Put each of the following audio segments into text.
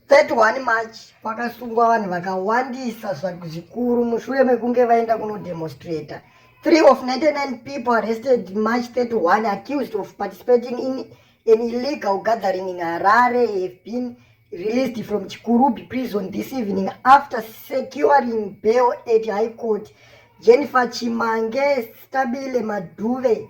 31 March kwakasungwa vanhu vakawandisa zvikuru mushure mekunge vaenda kunodemonstrator. Three of 99 people arrested March 31 accused of participating in an illegal gathering in Harare have been released from Chikurubi prison this evening after securing bail at High Court. Jennifer Chimange, Stabile Maduve,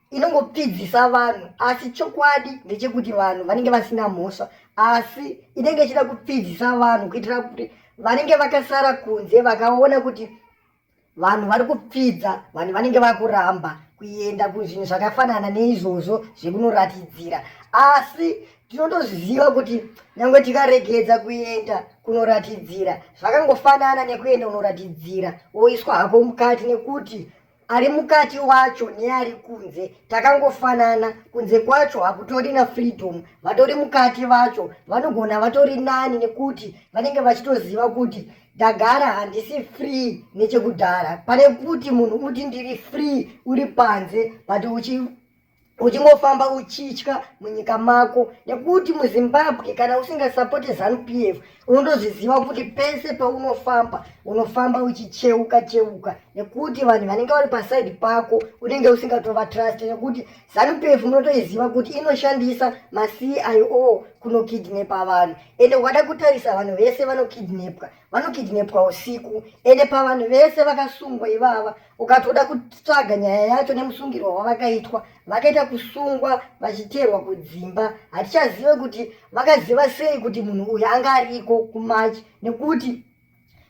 inongopfidzisa vanhu asi chokwadi ndechekuti vanhu vanenge vasina mhosva asi inenge ichida kupfidzisa vanhu kuitira kuti vanenge vakasara kunze vakaona kuti vanhu vari kupfidza vanhu vanenge vakuramba kuenda kuzvinhu zvakafanana neizvozvo zvekunoratidzira asi tinotozviziva kuti nyange tikaregedza kuenda kunoratidzira zvakangofanana nekuenda unoratidzira woiswa hako mukati nekuti ari mukati wacho neari kunze takangofanana kunze kwacho hakutorina freedom vatori mukati vacho vanogona vatori nani nekuti vanenge vachitoziva kuti ndagara handisi free nechekudhara pane kuti munhu uti ndiri free uri panze but uchi uchingofamba uchitya munyika mako nekuti muzimbabwe kana usingasapoti zanupf unotozviziva kuti pese paunofamba unofamba uchicheuka cheuka nekuti vanhu vanenge vari pasaidi pako unenge usingatovatrust nekuti zanupf unotoiziva kuti inoshandisa macio kunokidnepa vanhu ende ukada kutarisa vanhu vese vanokidnepwa vanokidnepwa usiku ende pavanhu vese vakasungwa ivava ukatoda kutsvaga nyaya yacho nemusungirwa wavakaitwa vakaita kusungwa vachiteerwa kudzimba hatichazive kuti vakaziva sei kuti munhu uyu anga ariko kumachi nekuti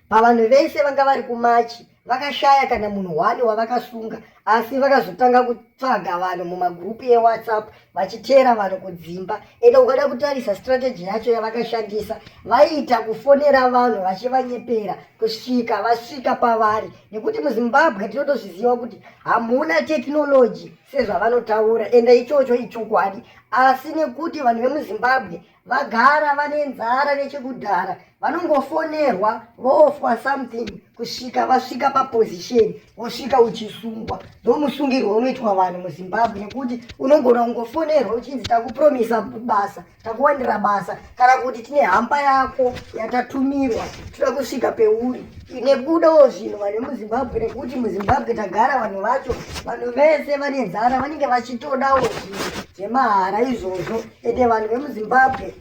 pavanhu vese vanga vari kumachi vakashaya kana munhu hwani wavakasunga asi vakazotanga kutsvaga vanhu mumagurupu ewhatsapp vachiteera vanhu kudzimba ende ukada kutarisa strategy yacho yavakashandisa vaiita kufonera vanhu vachivanyepera kusvika vasvika pavari nekuti muzimbabwe tinotozviziva kuti hamuna tekinoloji sezvavanotaura enda ichocho ichokwadi asi nekuti vanhu vemuzimbabwe vagara vane nzara nechekudhara vanongofonerwa voofwa something kusvika vasvika paposition wosvika uchisungwa ndomusungirwo unoitwa vanhu muzimbabwe nekuti unongona kungofonerwa uchinzi takupromisa basa takuwanira basa kana kuti tine hamba yako yatatumirwa toda kusvika peuri nekudawo zvinhu vanhu vemuzimbabwe nekuti muzimbabwe tagara vanhu vacho vanhu vese vane nzara vanenge vachitodawo zvinhu zvemahara izvozvo ende vanhu vemuzimbabwe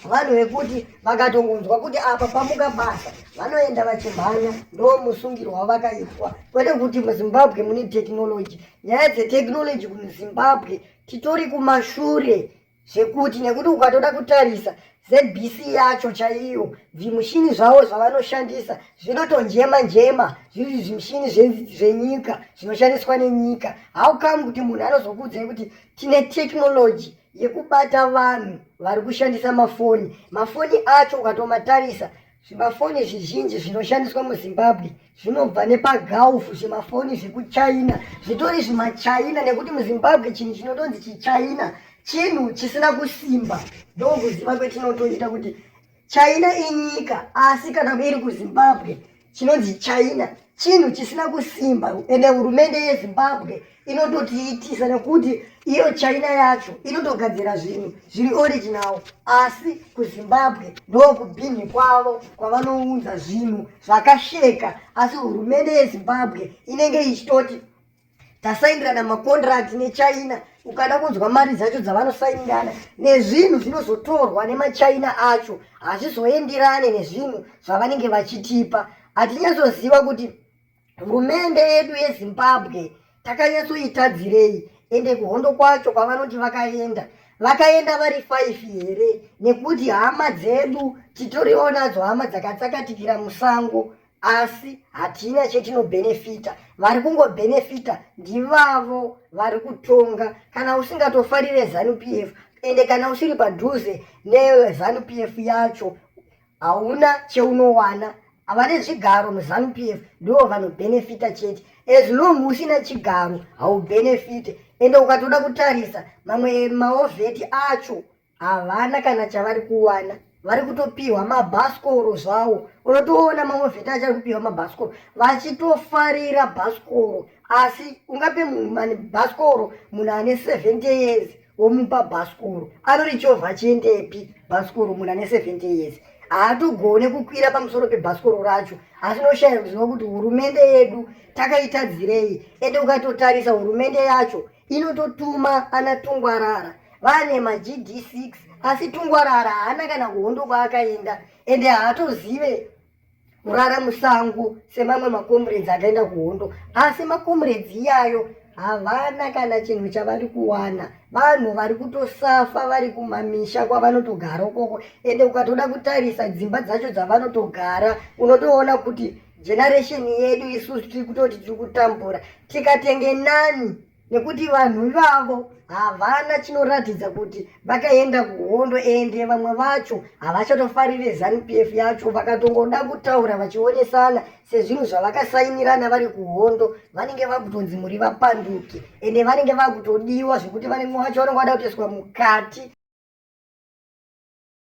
vanhu vekuti vakatongonzwa kuti apa pamuka basa vanoenda vachimhanya ndo musungiro wavakaitwa kwete kuti muzimbabwe mune tekinoloji nyaya dzetekinoloji kumuzimbabwe titori kumashure zvekuti nekuti ukatoda kutarisa zbc yacho chaiyo zvimushini zvavo zvavanoshandisa zvinotonjema njema zviri zvimushini zvenyika zvinoshandiswa nenyika how come kuti munhu anozokuudzai kuti tine technology yekubata vanhu vari kushandisa mafoni mafoni acho ukatomatarisa Zvimafoni zvizhinji zvinoshandiswa muZimbabwe zvinobva nepagulf, zvimafoni zvekuchina zvitori zvimachina nekuti muZimbabwe chinhu chinotonzi chichina chinhu chisina kusimba. Ndokuziva kwetinotoita kuti china inyika asi kana iri kuzimbabwe chinonzi china chinhu chisina kusimba ende hurumende yezimbabwe inototiitisa nekuti iyo china yacho inotogadzira zvinhu zviri original asi kuzimbabwe ndokubhinhi kwavo kwavanounza zvinhu zvakasheka asi hurumende yezimbabwe inenge ichitoti tasaindirana makondirati nechina ukada kunzwa mari dzacho dzavanosainirana nezvinhu zvinozotorwa nemachina acho hazvizoendirane nezvinhu zvavanenge vachitipa hatinyatsoziva kuti hurumende yedu yezimbabwe takanyatsoitadzirei ende kuhondo kwacho kwavanoti vakaenda vakaenda vari five here nekuti hama dzedu titoriwo nadzo hama dzakatsakatikira musango asi hatina chetinobhenefita vari kungobhenefita ndivavo vari kutonga kana usingatofarire zanu p f ende kana usiri padhuze nezanu p f yacho hauna cheunowana havane zvigaro muzanu p f ndivo vanobhenefita chete as long usina chigaro haubhenefite ende ukatoda kutarisa mamwe maovheti acho havana kana chavari kuwana vari kutopiwa mabhasikoro zvawo unotoona mamwe vheti achari kupiwa mabhasikoro vachitofarira bhasikoro asi ungape munhu mani bhasikoro munhu ane 70 years womupa bhasikoro anorichova chiendepi bhasikoro munhu ane 70 years haatogone kukwira pamusoro pebhasikoro racho asi noshaya kuziva kuti hurumende yedu takaitadzirei ende ukatotarisa hurumende yacho inototuma ana tungwarara vane magd6 asi tungwarara haana kana kuhondo kwaakaenda ende haatozive kurara musango semamwe makomuredzi akaenda kuhondo asi makomuredzi iyayo havana kana chinhu chavari kuwana vanhu vari kutosafa vari kumamisha kwavanotogara ukoko ende ukatoda kutarisa dzimba dzacho dzavanotogara unotoona kuti generation yedu isusu tiri kutoti tiri kutambura tikatenge nani nekuti vanhu ivavo havana chinoratidza kuti vakaenda kuhondo ende vamwe vacho havachatofarire zanupf yacho vakatongoda kutaura vachionesana sezvinhu zvavakasainirana vari kuhondo vanenge vakutonzi muri vapanduki ende vanenge vakutodiwa zvekuti vanenge vacho vanenge vada kutoiswa mukati